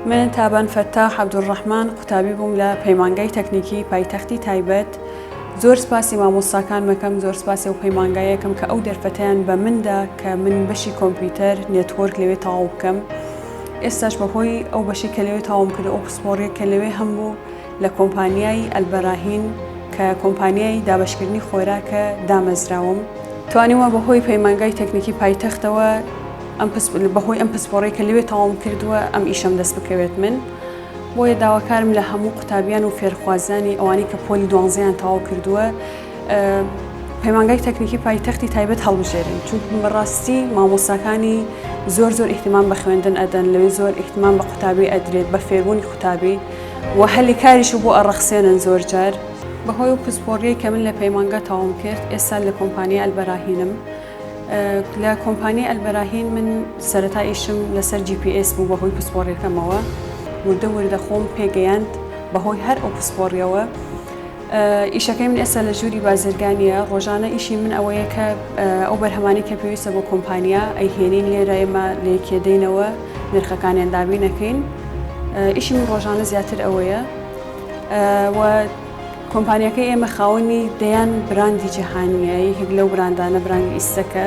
من تابان فەتاح عەبدولڕەحمان قوتابی بووم لە پەیمانگای تەکنیکی پایتەختی تایبەت زۆر سپاسی مامۆستاکان مەکەم زۆر سپاسی و پەیمانگایەکەم کە ئەو دەرفەتیان بە مندا کە من بەشی کۆمپیوتەر نێتۆرک لەوێ تەواو بکەم ئێستاش بەهۆی ئەو بەشی کە لەوێ تاوم کرد ئەو پسپۆڕیە کە لەوێ هەم بوو لە کۆمپانیای ئەلبەراهین کە کۆمپانیای دابەشکردنی خۆراکە دامەزراوم. توانیومە بەهۆی پەیمانگای تەکنیکی پایتەختەوە ئەم بەهۆی ئەم پسپۆڕی کە لەوێ تەواوم کردووە ئەم ئیشەم دەست بکەوێت من بۆیە داواکارم لە هەموو قوتابیان و فێرخوازانی ئەوانەی کە پۆلی دوانزیان تەواو کردووە پەیمانگای تەکنیکی پایتەختی تایبەت هەڵبژێرن چون بەڕاستی مامۆستاکانی زۆر زۆر ئیحتیمان بە خوێندن ئەدەن لەوێ زۆر ئیحتمان بە قوتابی ئەدرێت بە فێربوونی قوتابی و هەلی کاریشو بۆ ئەڕەخسێنن زۆر جار. بەهۆی ئەو پسپۆڕیەی کە من لە پەیمانگا تەواوم کرد ئێستا لە کۆمپانیای ئەلبەراهینم لە کۆمپانیای ئەلبەراهین من سەرەتا ئیشم لەسەر جی پی ئێس بوو بەهۆی پسپۆڕیەکەمەوە وردە وردە خۆم پێگەیاند بەهۆی هەر ئەو پسپۆڕیەوە ئیشەکەی من ئێستا لە ژووری بازرگانیە ڕۆژانە ئیشی من ئەوەیە کە ئەو بەرهەمانی کە پێویستە بۆ کۆمپانیا ئەیهێنین لێرە ئێمە لێکێدەینەوە نرخەکانیان دابینەکەین ئیشی من ڕۆژانە زیاتر ئەوەیە کۆمپانیەکە ئێمە خاوەنی دەیان براندی جیهانیە یەکێک لەو براندانە براندی ئیسەکە